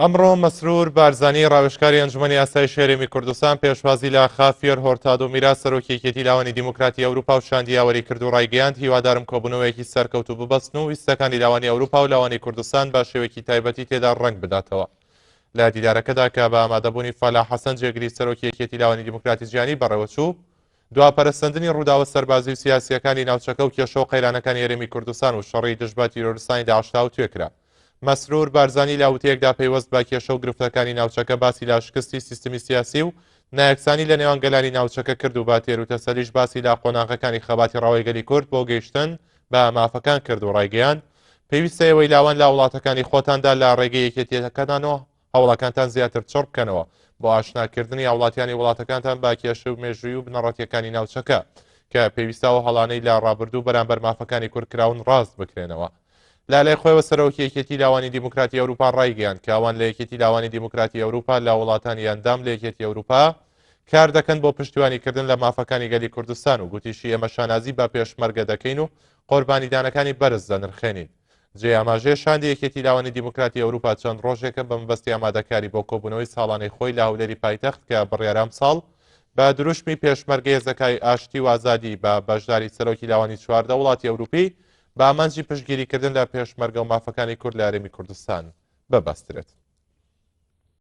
ئەمڕۆ مەسرور بارزانی ڕاوێژکاری ئەنجومەنی ئاسایش هەرێمی کوردستان پێشوازی لە خافیەر هۆرتادۆ میرا سەرۆکی یەکێتی لاوانی دیموکراتی ئەوروپا و شاندی یاوەری کرد و ڕایگەیاند هیوادارم کۆبوونەوەیەکی سەرکەوتوو ببەستن و ویستەکانی لاوانی ئەوروپا و لاوانی کوردستان بە شێوەیەکی تایبەتی تێدا ڕەنگ بداتەوە لە دیدارەکەدا کە بە ئامادەبوونی فالا حەسەن جێگری سەرۆکی یەکێتی لاوانی دیموکراتی جیهانی بەڕێوەچوو دوا پەرەسەندنی ڕووداوە سەربازی و سیاسییەکانی ناوچەکە و کێشە و قەیرانەکانی هەرێمی کوردستان و شەڕی دژ بە تیرۆرستانی داعش تاوتوێ کرا. مەسرور بارزانی لە وتەیەکدا پەیوەست بە کێشە و گرفتەکانی ناوچەکە باسی لە شکستی سیستمی سیاسی و نایەکسانی لە نێوان گەلانی ناوچەکە کرد و بە تێروتەسەلیش باسی لە قۆناغەکانی خەباتی ڕەوای گەلی کورد بۆ گەیشتن بە مافەکان کرد و ڕایگەیاند پێویستە ئێوەی لاوان لە وڵاتەکانی خۆتاندا لە ڕێگەی یەکێتییەکەتانەوە هەوڵەکانتان زیاتر چڕ بکەنەوە بۆ ئاشناکردنی هاوڵاتیانی وڵاتەکانتان بە کێشەو مێژووی و بنەڕەتیەکانی ناوچەکە کە پێویستە و هەڵانەی لە ڕابردوو بەرامبەر مافەکانی کوردکراون ڕاست بکرێنەوە. لە لای خۆیەوە سەرۆکی یەکێتی لاوانی دیموکراتی ئەوروپا ڕایگەیاند کە ئەوان لە یەکێتی لاوانی دیموکراتی ئەوروپا لە وڵاتانی ئەندام لە یەکێتی ئەوروپا کار دەکەن بۆ پشتیوانیکردن لە مافەکانی گەلی کوردستان و گوتیشی ئێمە شانازی بە پێشمەرگە دەکەین و قۆربانیدانەکانی بەرز دەنرخێنین. جێی ئاماژەیە شاندی یەکێتی لاوانی دیموکراتی ئەوروپا چەند ڕۆژێکە بە مەبەستی ئامادەکاری بۆ کۆبوونەوەی ساڵانەی خۆی لە هەولێری پایتەخت کە بڕیارە ئەمساڵ بە دروشمی پێشمەرگە هێزەکای ئاشتی و ئازادی بە بەشداری سەرۆکی لاوانی چواردە وڵاتی ئەوروپی بە ئامانجی پشتگیریکردن لە پێشمەرگە و مافەکانی کورد لە هەرێمی کوردستان ببەسترێت.